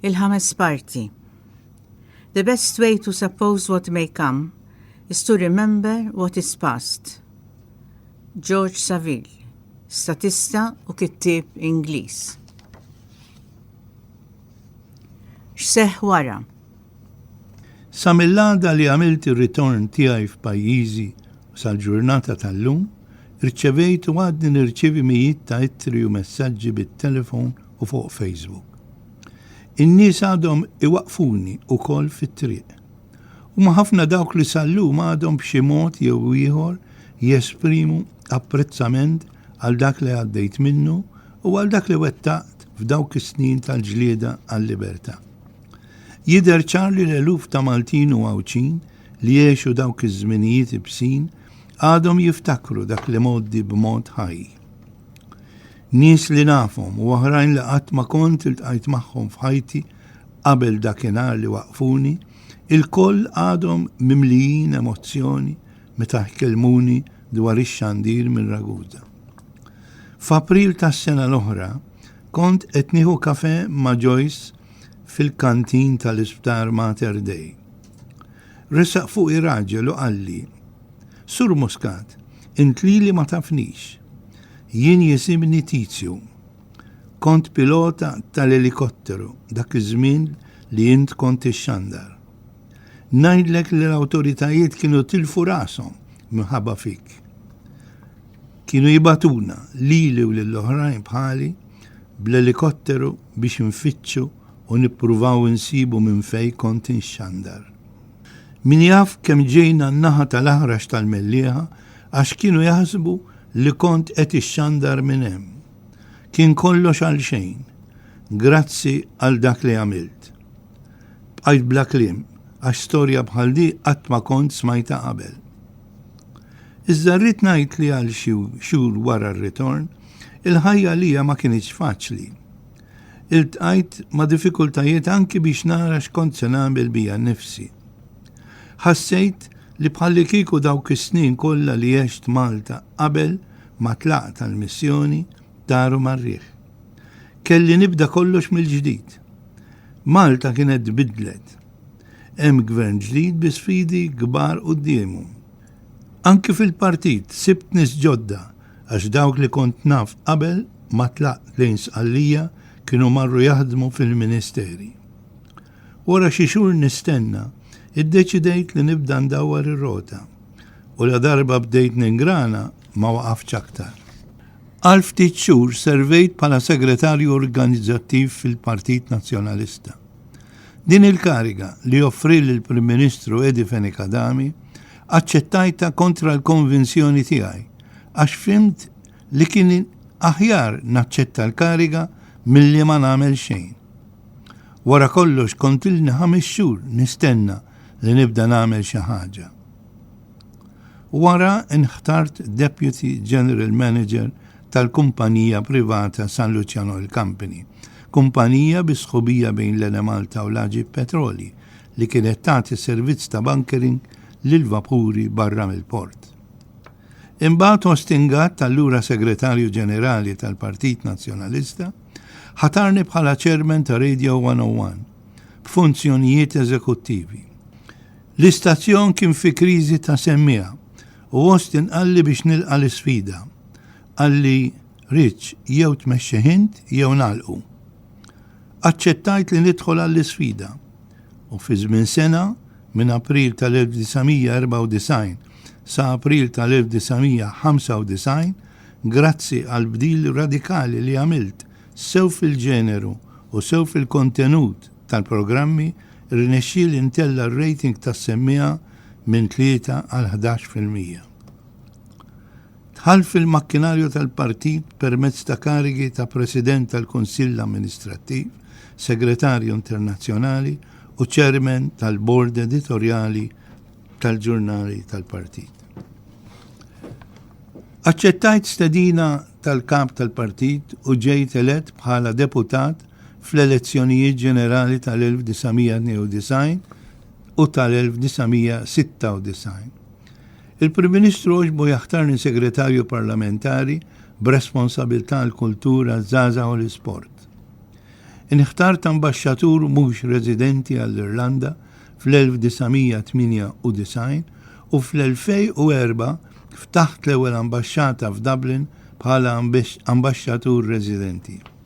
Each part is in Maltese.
Il-ħames parti. The best way to suppose what may come is to remember what is past. George Saville, statista u kittieb Ingliż. X'seħħ wara? Sa mill-għada li għamilt ir-ritorn tiegħi f'pajjiżi u sal-ġurnata tal-lum, rċevejt u għadni nirċievi mijiet ta' ittri u messaġġi bit-telefon u fuq Facebook. In-nies għadhom iwaqqfuni wkoll fit-triq. Huma ħafna dawk li sal-lum għadhom b'xi mod jew ieħor jesprimu apprezzament għal dak li għaddejt minnu u għal dak li wettaqt f'dawk is-snin tal-ġlieda għal-libertà. Jidher ċar li l-eluf ta' Maltin u Għawdxin li għexu dawk iż-żminijiet ibsin għadhom jiftakru dak l-imgħoddi b'mod ħaj. Nies li nafhom u oħrajn li qatt ma kont iltqajt magħhom f'ħajti qabel dakinhar li waqqfuni, ilkoll għadhom mimlijin emozzjoni meta jkellmuni dwar ix-xandir minn Ragusa. F'April tas-sena l-oħra kont qed nieħu kafè ma' Joyce fil-kantin tal-isptar Mater Dei. Resaq fuqi raġel u qalli, Sur Muscat, int lili ma tafnix. Jien jisimni Tizju. Kont pilota tal-elikotteru dak iż-żmien li int kont tixxandar. Ngħidlek li l-awtoritajiet kienu tilfu rashom minħabba fik. Kienu jibgħatuna, lili u lil oħrajn bħali, bl-elikotteru biex infittxu u nippruvaw insibu minn fejn kont inxxandar. Min jaf kemm ġejna n-naħa tal-Aħrax tal-Mellieħa għax kienu jaħsbu li kont qed ixxandar minn hemm. Kien kollox għalxejn. Grazzi għal dak li għamilt. Bqajt bla kliem għax storja bħal di qatt ma kont smajtha qabel. Iżda rrid ngħid li għal xi xhur wara r-ritorn, il-ħajja għalija ma kinitx faċli. Iltqajt ma' diffikultajiet anki biex nara x'kont se nagħmel bija nnifsi. Ħassejt li bħallikieku dawk is-snin kollha li għext Malta qabel ma tlaqt għall-missjoni taru mar-riħ. Kelli nibda kollox mill-ġdid. Malta kienet tbiddlet. Hemm Gvern ġdid bi sfidi kbar quddiemu. Anki fil-partit sibt nies ġodda għax dawk li kont naf qabel ma tlaqt lejn Sqallija kienu marru jaħdmu fil-Ministeri. Wara xi xhur nistenna, iddeċidejt li nibda ndawwar ir-rota u ladarba bdejt ningrana ma waqaftx aktar. Għal ftit xhur servejt bħala Segretarju Organizzattiv fil-Partit Nazzjonalista. Din il-kariga li joffri l-Prim Ministru Edi Fenech Adami aċċettajta kontra l-konvinzjoni tiegħi għax fimt li kien aħjar naċċetta l-kariga milli ma nagħmel xejn. Wara kollox kontilni ħames xhur nistenna li nibda nagħmel xi ħaġa. Wara nħtart Deputy General Manager tal-kumpanija privata San Lucian Oil Company, kumpanija bi sħubija bejn l-Enemalta u l-Aġip Petroli, li kienet tagħti servizz ta' bunkering lill-vapuri barra mill-port. Imbagħad Austin Gatt, allura Segretarju Ġenerali tal-Partit Nazzjonalista, ħatarni bħala Chairman ta' Radio 101 b'funzjonijiet eżekuttivi. L-istazzjon kien fi kriżi ta' semmiegħa u Austin qalli biex nilqa' l-isfida. Qalli, Rich, jew tmexxih int jew nagħlqu. Aċċettajt li nidħol għall-isfida u fi żmien sena, minn April tal-1994 sa April tal-1995, grazzi għall-bdil radikali li għamilt sew fil-ġeneru u sew fil-kontenut tal-programmi, Irnexxieli ntella' r-rating tas-semmiegħa minn tlieta għal ħdax fil-mija. Dħalt fil-makkinarju tal-Partit permezz ta' karigi ta' President tal-Kunsill Amministrattiv, Segretarju Internazzjonali u Chairman tal-Bord Editorjali tal-ġurnali tal-Partit. Aċċettajt stedina tal-Kap tal-Partit u ġejt elett bħala Deputat fl-elezzjonijiet ġenerali tal-1992 u tal-1996. Il-Prim Ministru għoġbu jaħtarni Segretarju Parlamentari b'responsabilità għall-Kultura, ż-Żgħażagħ u l-Isport. Inħtart Ambaxxatur mhux residenti għall-Irlanda fl-1998 u fl-2004 ftaħt l-ewwel ambaxxata f'Dublin bħala Ambaxxatur Residenti.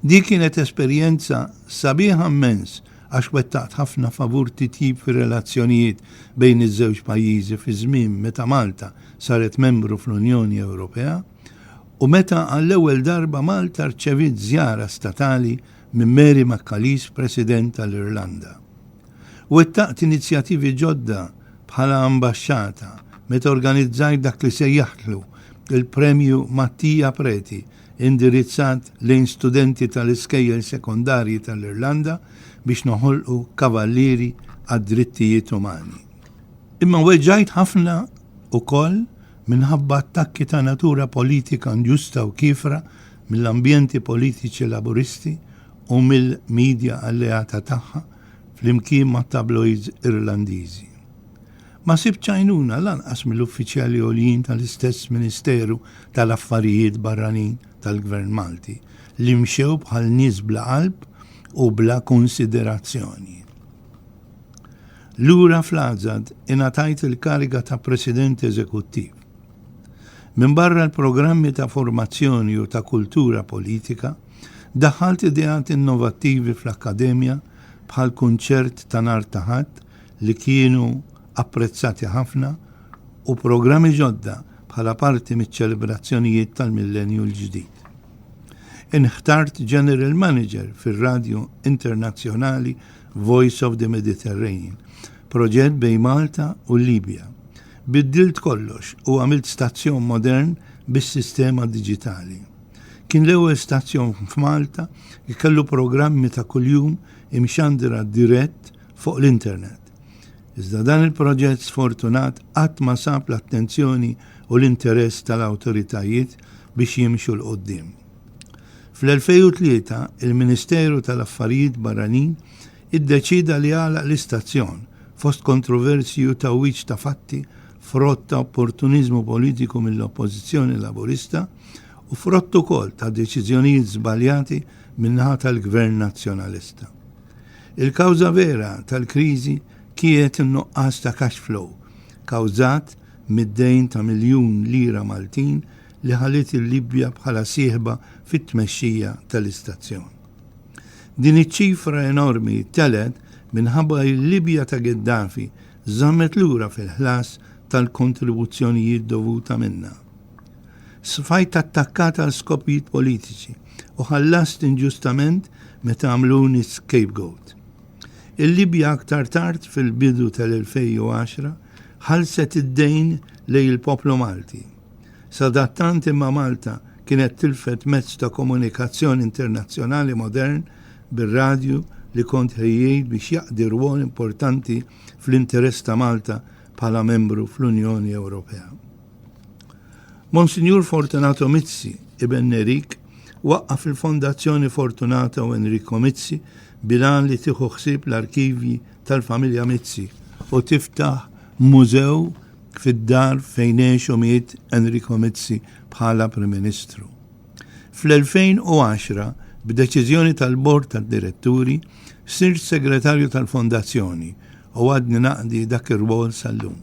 Dik kienet esperjenza sabiħa mmens għax wettaqt ħafna favur titjib fir-relazzjonijiet bejn iż-żewġ pajjiżi fi żmien meta Malta saret membru fl-Unjoni Ewropea u meta għall-ewwel darba Malta rċeviet żjara statali minn Mary McAleese President tal-Irlanda. Wettaqt inizjattivi ġodda bħala ambaxxata meta organizzajt dak li sejjaħtlu l-Premju Mattia Preti indirizzat lejn studenti tal-iskejjel sekondarji tal-Irlanda biex noħolqu kavallieri għad-drittijiet umani. Imma weġġajt ħafna ukoll minħabba attakki ta' natura politika nġusta u kiefra mill-ambjenti politiċi Laburisti u mill-midja alleata tagħha flimkien mat-tabloids Irlandiżi. Ma sibtx għajnuna lanqas mill-uffiċjali għoljin tal-istess Ministeru tal-Affarijiet Barranin tal-Gvern Malti li mxew bħal nies bla qalb u bla kunsiderazzjoni. Lura fl-Għażad ingħatajt il-kariga ta' President Eżekuttiv. Minbarra l-programmi ta' formazzjoni u ta' kultura politika, daħħalt ideat innovattivi fl-Akkademja bħall-Kunċert ta' Nhar ta' Ħadd li kienu apprezzati ħafna u programmi ġodda bħala parti miċ-ċelebrazzjonijiet tal-Millenju l-Ġdid. Inħtart General Manager fir-Radju Internazzjonali Voice of the Mediterranean, proġett bejn Malta u l-Libja. Biddilt kollox u għamilt stazzjon modern bis-sistema diġitali. Kien l-ewwel stazzjon f'Malta li kellu programmi ta' kuljum imxandira dirett fuq l-internet. Iżda dan il-proġett sfortunat qatt ma sab l-attenzjoni u l-interess tal-awtoritajiet biex jimxu 'l quddiem. Fl-2003 il-Ministeru tal-Affarijiet Barranin iddeċieda li jagħlaq l-istazzjon fost kontroversji u tgħawwiġ ta' fatti frott ta' opportuniżmu politiku mill-Oppożizzjoni Laburista u frott ukoll ta' deċiżjonijiet żbaljati min-naħa tal-Gvern Nazzjonalista. Il-kawża vera tal-kriżi kieet in-nuqqas ta' cash flow kawżat mid-dejn ta' miljun lira Maltin li ħalliet il-Libja bħala sieħba fit-tmexxija tal-istazzjon. Din iċ-ċifra enormi telgħet minħabba li l-Libja ta' Gheddafi żammet lura fil-ħlas tal-kontribuzzjonijiet dovuta minnha. Sfajt attakkat għal skopijiet politiċi u ħallast inġustament meta għamluni scapegoat. Il-Libja aktar tard fil-bidu tal-2010 ħalset id-dejn lej il-poplu Malti. Sadattant imma Malta kienet tilfet mezz ta' komunikazzjoni internazzjonali modern bir-radju li kont ħejjejt biex jaqdi rwol importanti fl-interess ta' Malta bħala membru fl-Unjoni Ewropea. Monsinjur Fortunato Mizzi, Iben Nerik, waqqaf il-Fondazzjoni Fortunata u Enrico Mizzi bilan li tieħu ħsieb l-arkivji tal-familja Mizzi u tiftaħ mużew fid-dar fejn għexu miet Enrico Mizzi bħala Prim Ministru. Fl-2010, b'deċiżjoni tal-Bord tad-Diretturi, sirt segretarju tal-Fondazzjoni u għadni naqdi dak ir-rwol sal-lum.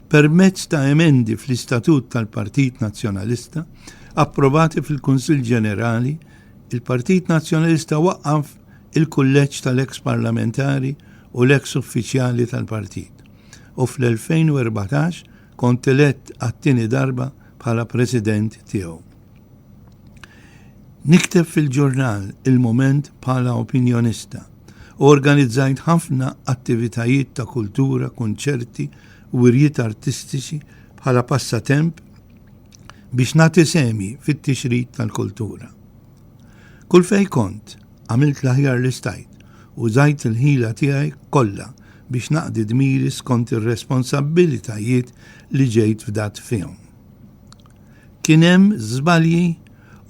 Permezz ta' emendi fl-Istatut tal-Partit Nazzjonalista approvati fil-Kunsill Ġenerali, il-Partit Nazzjonalista waqqaf il-kulleġġ tal-eks parlamentari u l-eks uffiċjali tal-partit u fl-2014 kont elett għat-tieni darba bħala president tiegħu. Nikteb fil-ġurnal il-moment bħala opinjonista u organizzajt ħafna attivitajiet ta' kultura, kunċerti u wirjiet artistiċi bħala passatemp biex nagħti semi fit-tixrid tal-kultura. Kull fej kont, għamilt l-aħjar li stajt u żajt il-ħila tiegħi kollha biex naqdi dmiri skont ir-responsabbilitajiet li ġejt fdat fihom. Kien hemm żbalji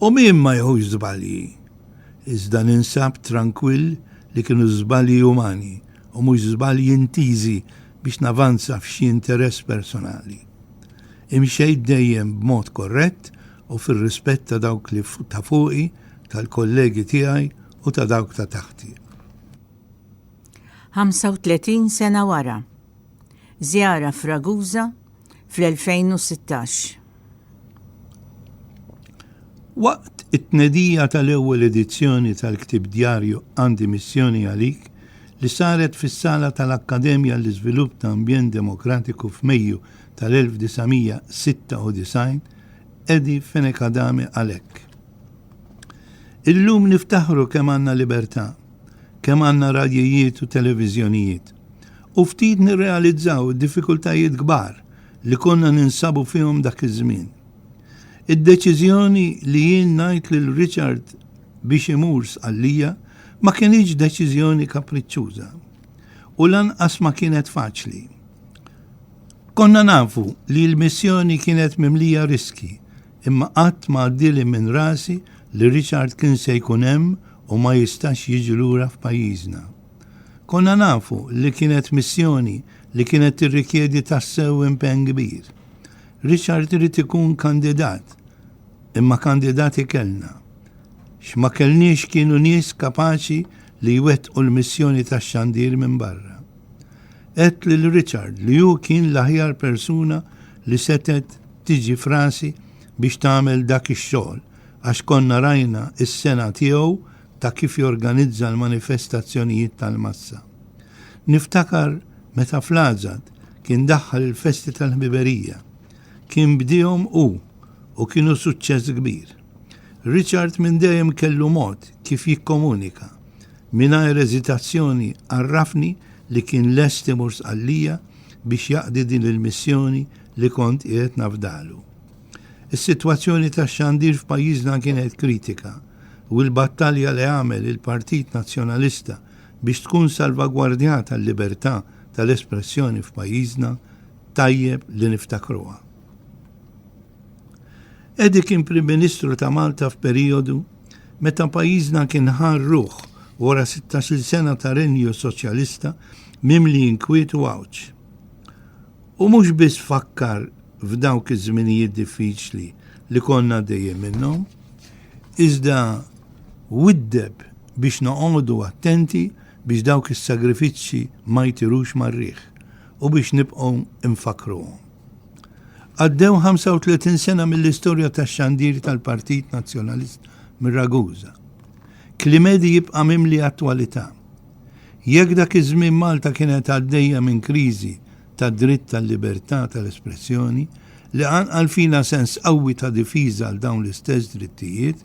u min ma jħux żbalji iżda ninsab trankwill li kienu żbalji umani u mhux żbalji intiżi biex navanza f'xi interess personali. Imxejt dejjem b'mod korrett u fir-rispett ta' dawk li ta' fuqi, tal-kollegi tiegħi u ta' dawk ta' taħti. 35 sena wara. żjara f'Ragusa fl-2016. Waqt it-tnedija tal-ewwel edizzjoni tal-ktieb djarju Għandi Missjoni Għalik li saret fis-sala tal-Akkademja għall-Iżvilupp ta' Ambjent Demokratiku f'Mejju tal-1996, Eddie Fenech Adami qal hekk, Illum niftaħru kemm għandna libertà, kemm għandna radjijiet u televiżjonijiet. u ftit nirrealizzaw id-diffikultajiet kbar li konna ninsabu fihom dak iż-żmien. Id-deċiżjoni li jien ngħid lil Richard biex imur Sqallija ma kinitx deċiżjoni kapriċċuża u lanqas ma kienet faċli. Konna nafu li l-missjoni kienet mimlija riskji imma qatt ma għaddieli minn rasi li Richard kien se jkun hemm u ma jistax jiġi lura f'pajjiżna. Konna nafu li kienet missjoni li kienet tirrikjedi tassew impenn kbir. Richard irid ikun kandidat, imma kandidati kellna. X'ma kellniex kienu nies kapaċi li jwettqu l-missjoni tax-xandir minn barra. Għedt lil Richard li hu kien l-aħjar persuna li setgħet tiġi f'rasi biex tagħmel dak ix-xogħol għax konna rajna s-sengħa tiegħu ta' kif jorganizza l-manifestazzjonijiet tal-massa. Niftakar meta fl-Għaġad kien daħħal il-festi tal-ħbiberija. Kien bdiehom hu u kienu suċċess kbir. Richard minn dejjem kellu mod kif jikkomunika. Mingħajr eżitazzjoni għarrafni li kien lest imur Sqallija biex jaqdi din il-missjoni li kont qiegħed nafdalu. Is-sitwazzjoni tax-xandir f'pajjiżna kienet kritika u l-battalja li għamel il-Partit Nazzjonalista biex tkun salvagwardjata l-libertà tal-espressjoni f'pajjiżna tajjeb li niftakruha. Edi kien Prim Ministru ta' Malta f'perijodu meta pajjiżna kien ħa ruħ wara 16-il sena ta' renju soċjalista mimli inkwiet u għawġ. U mhux biss fakkar f'dawk iż-żminijiet diffiċli li konna għaddejjin minnhom, iżda widdeb biex noqogħdu attenti biex dawk is-sagrifiċċji ma jtirux mar-riħ u biex nibqgħu nfakkruhom. Għaddew 35 sena mill-istorja tax-xandir tal-Partit Nazzjonalist mir-Raguża. Klimedi jibqa' mimli attwalità. Jekk dak iż-żmien Malta kienet għaddejja minn kriżi tad-dritt tal-libertà tal-espressjoni li qanqal fina sens qawwi ta' difiża għal dawn l-istess drittijiet,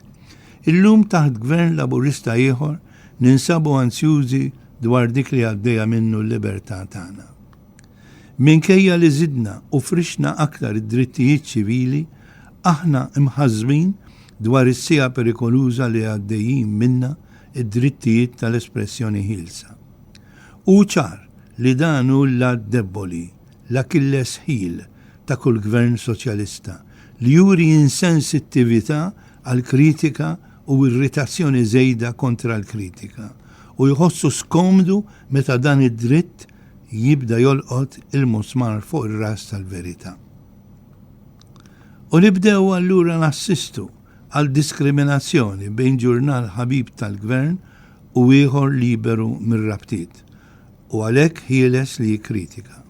illum taħt Gvern Laburista ieħor ninsabu anzjużi dwar dik li għaddejja minnu l-libertà tagħna. Minkejja li żidna u frixna aktar id-drittijiet ċivili, aħna mħassbin dwar is-siegħa perikoluża li għaddejjin minnha id-drittijiet tal-espressjoni ħielsa. Hu ċar li dan hu l-għadd debboli, l-Achilles heel, ta' kull Gvern Soċjalista, li juri insensittività għall-kritika u irritazzjoni żejda kontra l-kritika, u jħossu skomdu meta dan id-dritt jibda jolqot il-musmar fuq ir-ras tal-verità. U nibdew allura nassistu għal diskriminazzjoni bejn ġurnal ħabib tal-Gvern u ieħor liberu mir-rabtiet u għalhekk ħieles li jikkritika.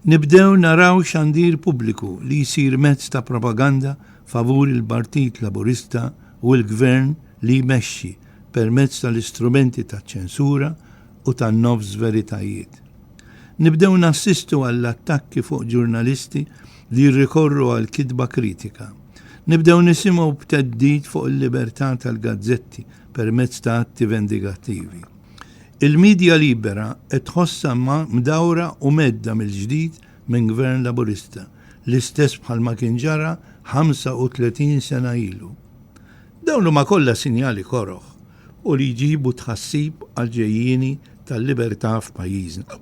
Nibdew naraw xandir pubbliku li jsir mezz ta' propaganda favur il-Partit Laburista u l-Gvern li jmexxi permezz tal-istrumenti taċ-ċensura u ta' nofs veritajiet. Nibdew nassistu għall-attakki fuq ġurnalisti li jirrikorru għal kitba kritika. Nibdew nisimgħu b'teddid fuq il-libertà tal-gazzetti permezz ta' atti vendigattivi. Il-medja libera qed tħossha mdawra u medda mill-ġdid minn Gvern Laburista, l-istess bħalma kien ġara 35 sena ilu. Dawn huma kollha sinjali koroh u li jġibu tħassib għall-ġejjieni tal-libertà f'pajjiżna.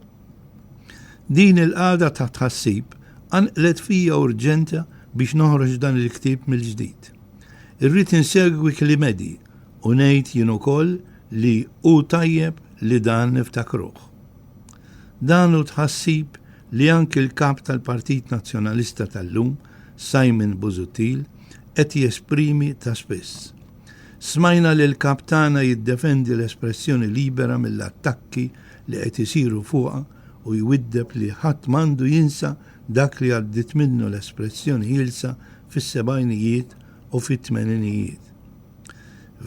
Din il-qagħda ta' tħassib qanqlet fija urġenza biex noħroġ dan il-ktieb mill-ġdid. Irrid insegwi klimedi u ngħid jien ukoll li hu tajjeb li dan niftakruh. Dan hu tħassib li anki l-Kap tal-Partit Nazzjonalista tal-lum, Simon Busuttil, qed jesprimi ta' spiss. Smajna lill-Kap tagħna jiddefendi l-espressjoni libera mill-attakki li qed isiru fuqha u jwiddeb li ħadd m'għandu jinsa dak li għaddiet minnu l-espressjoni ħielsa fis-sebgħinijiet u fit-tmeninijiet.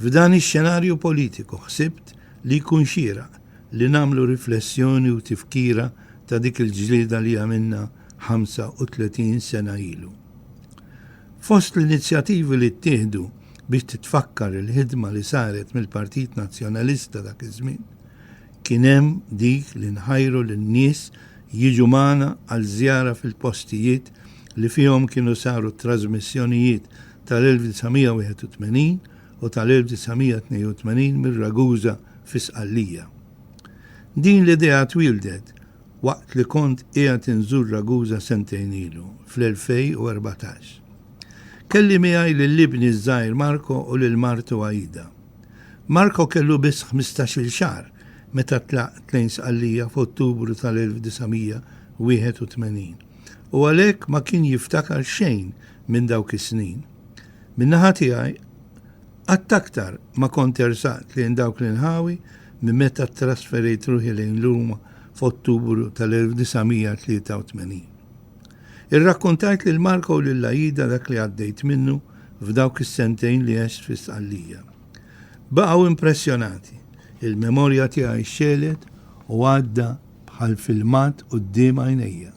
F'dan ix-xenarju politiku ħsibt li jkun xieraq li nagħmlu riflessjoni u tifkira ta' dik il-ġlieda li għamilna 35 sena ilu. Fost l-inizjativi li ttieħdu biex titfakkar il-ħidma li saret mill-Partit Nazzjonalista dak iż-żmien, kien hemm dik li nħajru lin-nies jiġu magħna għal żjara fil-postijiet li fihom kienu saru t-trażmissjonijiet tal-1981 u tal-1982 mir-Ragusa fi Sqallija. Din l-idea twieldet waqt li kont qiegħed inżur Ragusa sentejn ilu, fl-2014. Kelli miegħi lil ibni ż-żgħir Marco u lil martu Aida. Marco kellu biss ħmistax-il xahar meta tlaqt lejn Sqallija f'Ottubru tal-1981 u għalhekk ma kien jiftakar xejn minn dawk is-snin. Min-naħa tiegħi, Qatt aktar ma kont ersaqt lejn dawk l-inħawi minn meta ttrasferejt ruħi lejn Ruma f'Ottubru tal-1983. Irrakkontajt lil Marco u lil Aida dak li għaddejt minnu f'dawk is-sentejn li għext fi Sqallija. Baqgħu impressjonati. Il-memorja tiegħi xxegħlet u għadda bħal filmat quddiem għajnejja.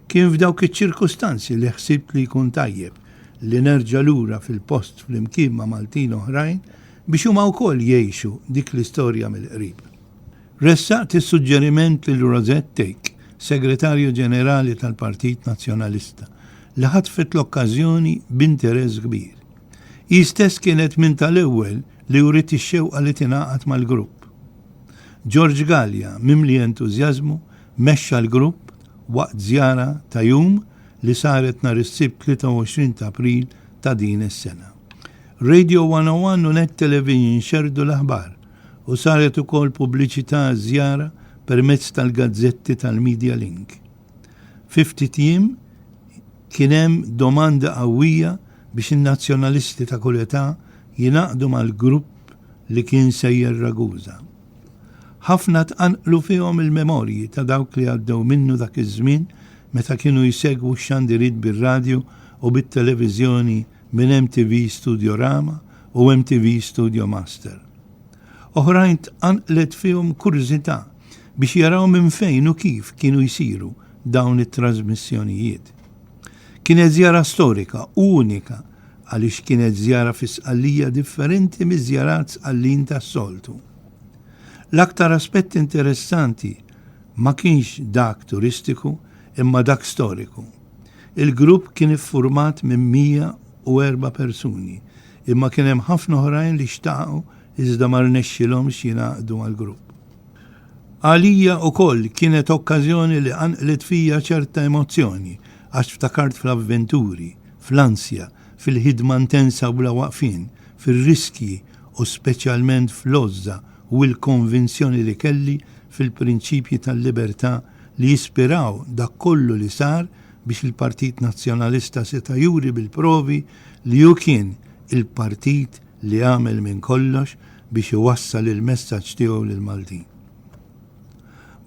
Kien f'dawk iċ-ċirkustanzi li ħsibt li jkun tajjeb li nerġa' lura fil-post flimkien ma' Maltin oħrajn biex huma wkoll jgħixu dik l-istorja mill-qrib. Ressaqt is-suġġeriment lil Rosette Take, Segretarju Ġenerali tal-Partit Nazzjonalista, li ħatfet l-okkażjoni b'interess kbir. Hi stess kienet minn tal-ewwel li wriet ix-xewqa li tingħaqad mal-grupp. George Galea, mimli entużjażmu, mexxa l-grupp waqt żjara ta' jum li saret nhar is-Sibt 23 ta' April ta' din is-sena. Radio 101 u Net Television xerrdu l-aħbar u saret ukoll pubbliċità għaż-żjara permezz tal-gazzetti tal-Media Link. Fi ftit jiem kien hemm domanda qawwija biex in-Nazzjonalisti ta' kull età jingħaqdu mal-grupp li kien sejjer Ragusa. Ħafna tqanqlu fihom il-memorji ta' dawk li għaddew minnu dak iż-żmien meta kienu jsegwu x-xandiriet bir-radju u bit-televiżjoni minn MTV Studiorama u MTV Studio Master. Oħrajn tqanqlet fihom kurżità biex jaraw minn fejn u kif kienu jsiru dawn it-trażmissjonijiet. Kienet żjara storika u unika għaliex kienet żjara fi Sqallija differenti miż-żjarat Sqallin tas-soltu. L-aktar aspett interessanti ma kienx dak turistiku imma dak storiku. Il-grupp kien iffurmat minn 104 persuni imma kien hemm ħafna oħrajn li xtaqu iżda ma rnexxilhomx jingħaqdu għall-grupp. Għalija ukoll kienet okkażjoni li qanqlet fija ċerta emozzjoni għax ftakart fl-avventuri, fl-ansja, fil-ħidma ntensa u bla waqfien, fir-riskji u speċjalment fl-għożża u l-konvinzjoni li kelli fil-prinċipji tal-libertà li jispiraw dak kollu li sar biex il-Partit Nazzjonalista seta' juri bil-provi li hu kien il-partit li għamel minn kollox biex iwassal il-messaġġ tiegħu lill-Maltin.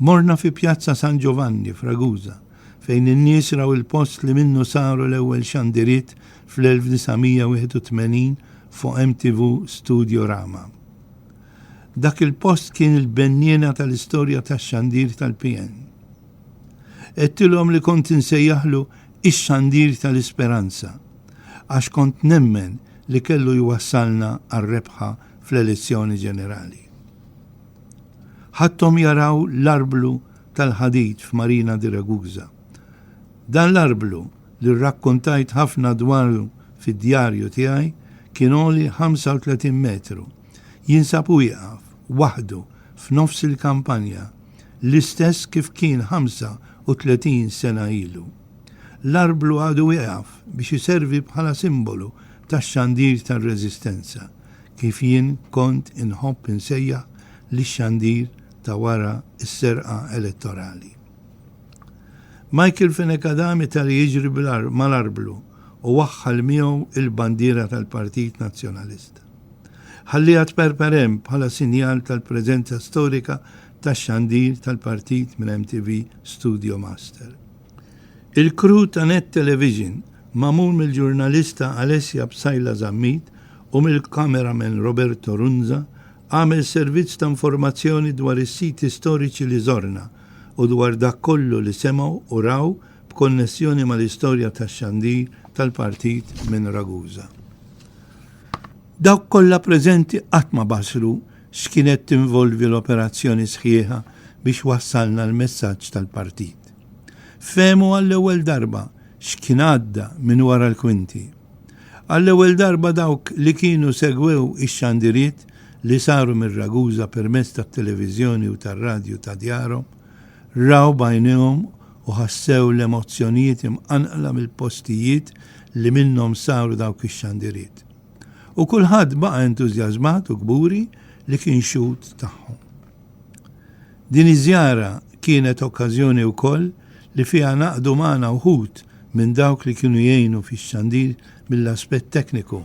Morna fi Pjazza San Ġovanni f'Ragusa. fejn in-nies raw il-post li minnu saru l-ewwel xandiriet fl-1981 fuq MTV Studiorama. Dak il-post kien il-benniena tal-istorja tax-xandir tal-PN. Għedtilhom li kont insejjaħlu ix-xandir tal-isperanza għax kont nemmen li kellu jwassalna għar-rebħa fl-elezzjoni ġenerali. Ħadthom jaraw l-arblu tal-ħadid f'Marina di Ragusa. Dan l-arblu, li rrakkontajt ħafna dwaru fid-djarju tiegħi, kien għoli 35 metru. Jinsab u jieqaf, waħdu, f'nofs il-kampanja, l-istess kif kien 35 sena ilu. L-arblu għadu ieqaf biex iservi bħala simbolu tax-xandir tar-reżistenza, kif jien kont inħobb insejjaħ lix-xandir ta' wara s-serqa elettorali. Michael Fenech Adam itari jiġri mal-arblu u waħħal miegħu il-bandiera tal-Partit Nazzjonalista. Ħalliha tperper hemm bħala sinjal tal-preżenza storika tax-xandir tal-Partit minn MTV Studio Master. Il-crew ta' Net Television, magħmul mill-ġurnalista Alessia Psaila Zammit u mill-cameraman Roberto Runza, Għamel servizz ta' informazzjoni dwar is-siti storiċi li żorna u dwar dak kollu li semgħu u raw b'konnessjoni mal-istorja tax-xandir tal-Partit minn Ragusa. Dawk kollha preżenti qatt ma bassru x'kien qed tinvolvi l-operazzjoni sħiħa biex wassalna l-messaġġ tal-Partit. Fehmu għall-ewwel darba x'kien għadda minn wara l-kwinti. Għall-ewwel darba dawk li kienu segwew ix-xandiriet li saru minn Ragusa permezz tat-televiżjoni u tar-radju ta' djarhom, raw b'għajnejhom u ħassew l-emozzjonijiet imqanqla mill-postijiet li minnhom saru dawk ix-xandiriet. U kulħadd baqa' entużjażmat u kburi li kien xhud tagħhom. Din iż-żjara kienet okkażjoni wkoll li fiha ngħaqdu magħna wħud minn dawk li kienu jgħinu fix-xandir mill-aspett tekniku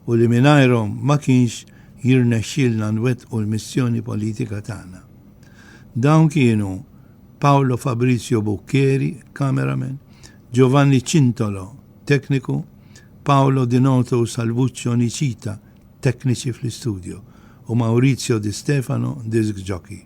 u li mingħajrhom ma kienx jirnexxielna nwettqu l-missjoni politika tagħna. Dawn kienu Paolo Fabrizio Buccheri, cameraman, Giovanni Cintolo, tekniku, Paolo Dinoto u Salvuccio Nicita, tekniċi fl-istudjo, u Maurizio Di Stefano, disk jockey.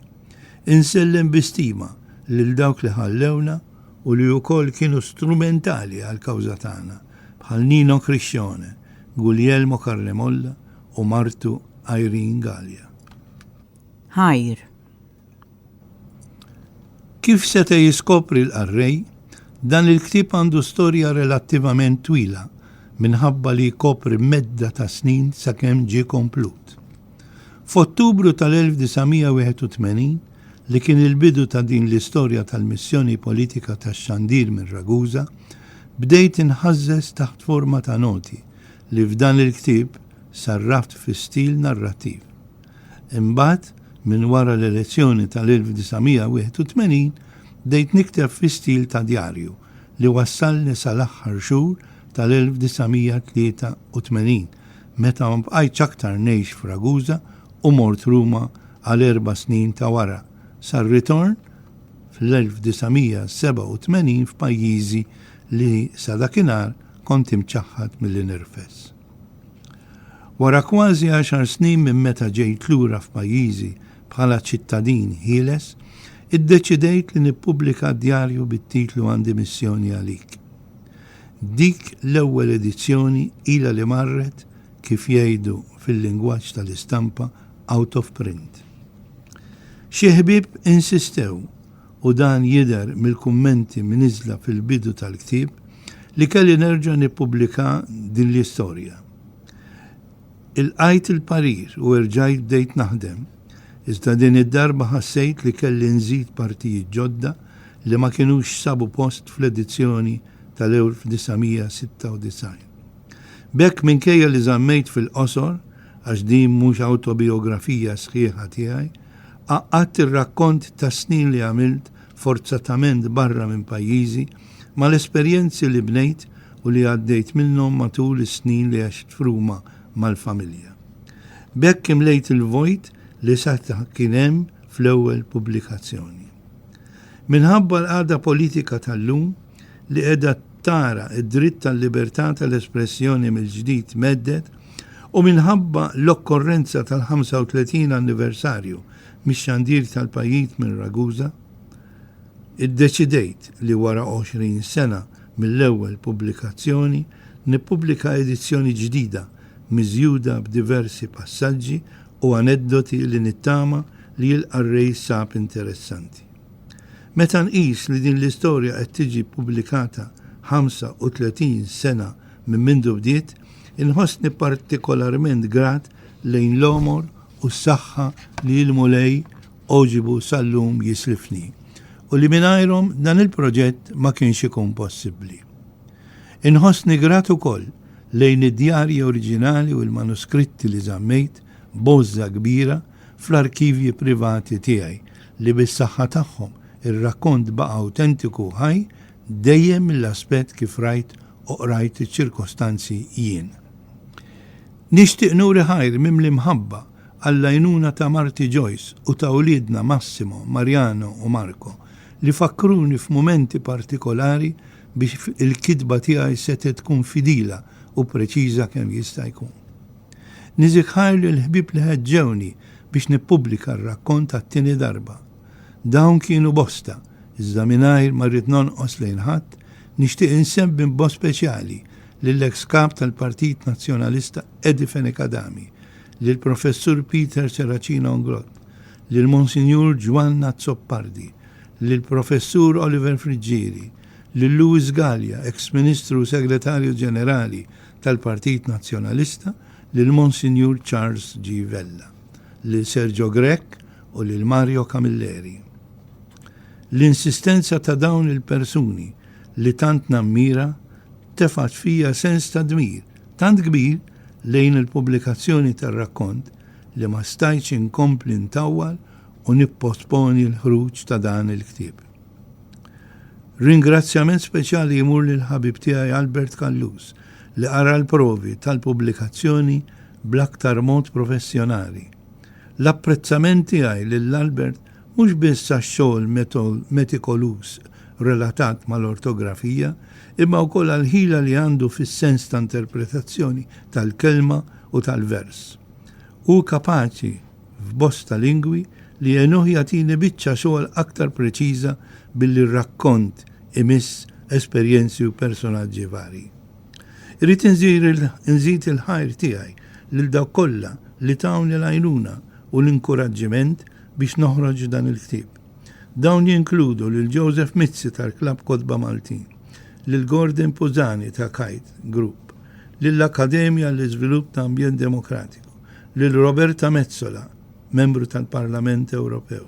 Insellem bi stima lil dawk li ħallewna u li wkoll kienu strumentali għall-kawża tagħna, bħal Nino Criscione, Guglielmo Carnemolla u martu Irene Galea. Ħajr. Kif seta' jiskopri l-qarrej, dan il-ktieb għandu storja relattivament twila minħabba li jkopri medda ta' snin sakemm ġie komplut. F'Ottubru tal-1981, li kien il-bidu ta' din l-istorja tal-missjoni politika tax-xandir minn Ragusa, bdejt inħażżeż taħt forma ta' noti, li f'dan il-ktieb sarraft fi stil narrattiv. Imbagħad, minn wara l-elezzjoni tal-1981, bdejt nikteb fi stil ta' djarju li wassalni sal-aħħar xhur tal-1983, meta ma bqajtx aktar ngħix f'Ragusa u mort Ruma għal erba' snin ta' wara, sar-ritorn fl-1987 f'pajjiżi li sa dakinhar kont imċaħħad milli nirfes. Wara kważi għaxar snin minn meta ġejt lura f'pajjiżi bħala ċittadin ħieles, iddeċidejt li nippubblika djarju bit-titlu Għandi Missjoni Għalik. Dik l-ewwel edizzjoni ilha li marret, kif jgħidu fil-lingwaġġ tal-istampa, out of print. Xi ħbieb insistew u dan jidher mill-kummenti mniżżla fil-bidu tal-ktieb, li kelli nerġa' nippubblika din l-istorja. Ilqajt il-parir u erġajt bdejt naħdem, iżda din id-darba ħassejt li kelli nżid partijiet ġodda li ma kinux sabu post fl-edizzjoni tal-1996. B'hekk minkejja li żammejt fil-qosor, għax din mhux awtobijografija sħiħa tiegħi, Għaqqadt ir-rakkont tas-snin li għamilt forzatament barra minn pajjiżi mal-esperjenzi li bnejt u li għaddejt minnhom matul is-snin li għext f'Ruma mal-familja. B'hekk imlejt il-vojt li saħta kien hemm fl-ewwel pubblikazzjoni. Minħabba l-qagħda politika tal-lum li qiegħda tara d-dritt tal-libertà tal-espressjoni mill-ġdid mhedded u minħabba l-okkorrenza tal-35 anniversarju mix-xandir tal-pajjiz minn Ragusa, iddeċidejt li wara 20 sena mill-ewwel pubblikazzjoni nippubblika edizzjoni ġdida miżjuda b'diversi passaġġi u aneddoti li nittama li l-qarrej sab interessanti. Meta nqis li din l-istorja qed tiġi ppubblikata 35 sena minn mindu bdiet, inħossni partikolarment grat lejn l-għomor u s-saħħa li il-Mulej għoġibu sal-lum jislifni u li mingħajrhom dan il-proġett ma kienx ikun possibbli. Inħossni grat ukoll lejn id-djarji oriġinali u l-manuskritti li żammejt b'għożża kbira fl-arkivji privati tiegħi li bis-saħħa tagħhom ir-rakkont baqa' awtentiku u ħaj dejjem mill-aspett kif rajt u qrajt iċ-ċirkostanzi jien. Nixtieq nuri ħajr mimli mħabba għall-għajnuna ta' marti Joyce u ta' uliedna Massimo, Mariano u Marco li fakkruni f'mumenti partikolari biex il-kitba tiegħi setgħet tkun fidila u preċiża kemm jista' jkun. Niżikħar lill-ħbieb li ħeġġewni biex nippubblika r-rakkont għat-tieni darba. Dawn kienu bosta, iżda mingħajr ma rrid nonqos lejn ħadd, nixtieq insemmi b'mod speċjali lill-eks Kap tal-Partit Nazzjonalista Eddie Fenech Adami, lill-Professur Peter Serracina Ungrott, lil Monsinjur Ġwann Azzopardi, lill-Professur Oliver Friggieri, lil Louis Galea, eks Ministru u Segretarju Ġenerali tal-Partit Nazzjonalista lil Monsinjur Charles G. Vella, lil Sergio Grech u lil Mario Camilleri. L-insistenza ta' dawn il-persuni li tant nammira tefgħet fija sens ta' dmir tant kbir lejn il-pubblikazzjoni tar-rakkont li ma stajtx inkompli ntawwal u nipposponi l-ħruġ ta' dan il-ktieb. Ringrazzjament speċjali jmur lill-ħabib tiegħi Albert Callus li qara l-provi tal-pubblikazzjoni bl-aktar mod professjonali. L-apprezzament tiegħi lil Albert mhux biss għax-xogħol metikoluż relatat mal-ortografija imma wkoll għall-ħila li għandu fis-sens ta' interpretazzjoni tal-kelma u tal-vers. Hu kapaċi f'bosta lingwi li għenuh jagħtini biċċa xogħol aktar preċiża billi r-rakkont imiss esperjenzi u personaġġi varji. Irrid inżid il-ħajr tiegħi lil dawk kollha li tawni l-għajnuna u l-inkuraġġiment biex noħroġ dan il-ktieb. Dawn jinkludu lil Joseph Mizzi tal-Klabb Kotba Maltin, lil Gordon Puzani ta' Kite Group, lill-Akkademja għall-Iżvilupp ta' Ambjent Demokratiku, lil Roberta Metsola, Membru tal-Parlament Ewropew,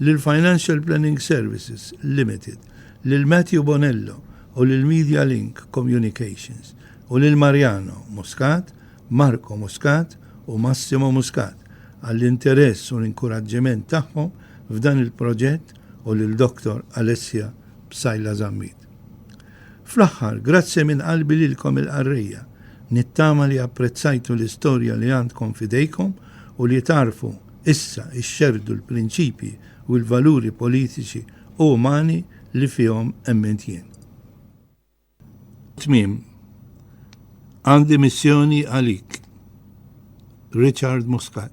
lil Financial Planning Services Limited, lil Matthew Bonello u lil Media Link Communications, u lil Mariano Muscat, Marco Muscat u Massimo Muscat għall-interess u l-inkuraġġiment tagħhom f'dan il-proġett u lil Dottor Alessia Psaila Zammit. President. Fl-aħħar, grazzi minn qalbi lilkom il-qarrejja. Nittama li apprezzajtu l-istorja li għandkom f'idejkom u li tagħrfu issa xxerrdu l-prinċipji u l-valuri politiċi u umani li fihom emmint jien. Tmiem. Għandi missjoni għalik. Richard Muscat.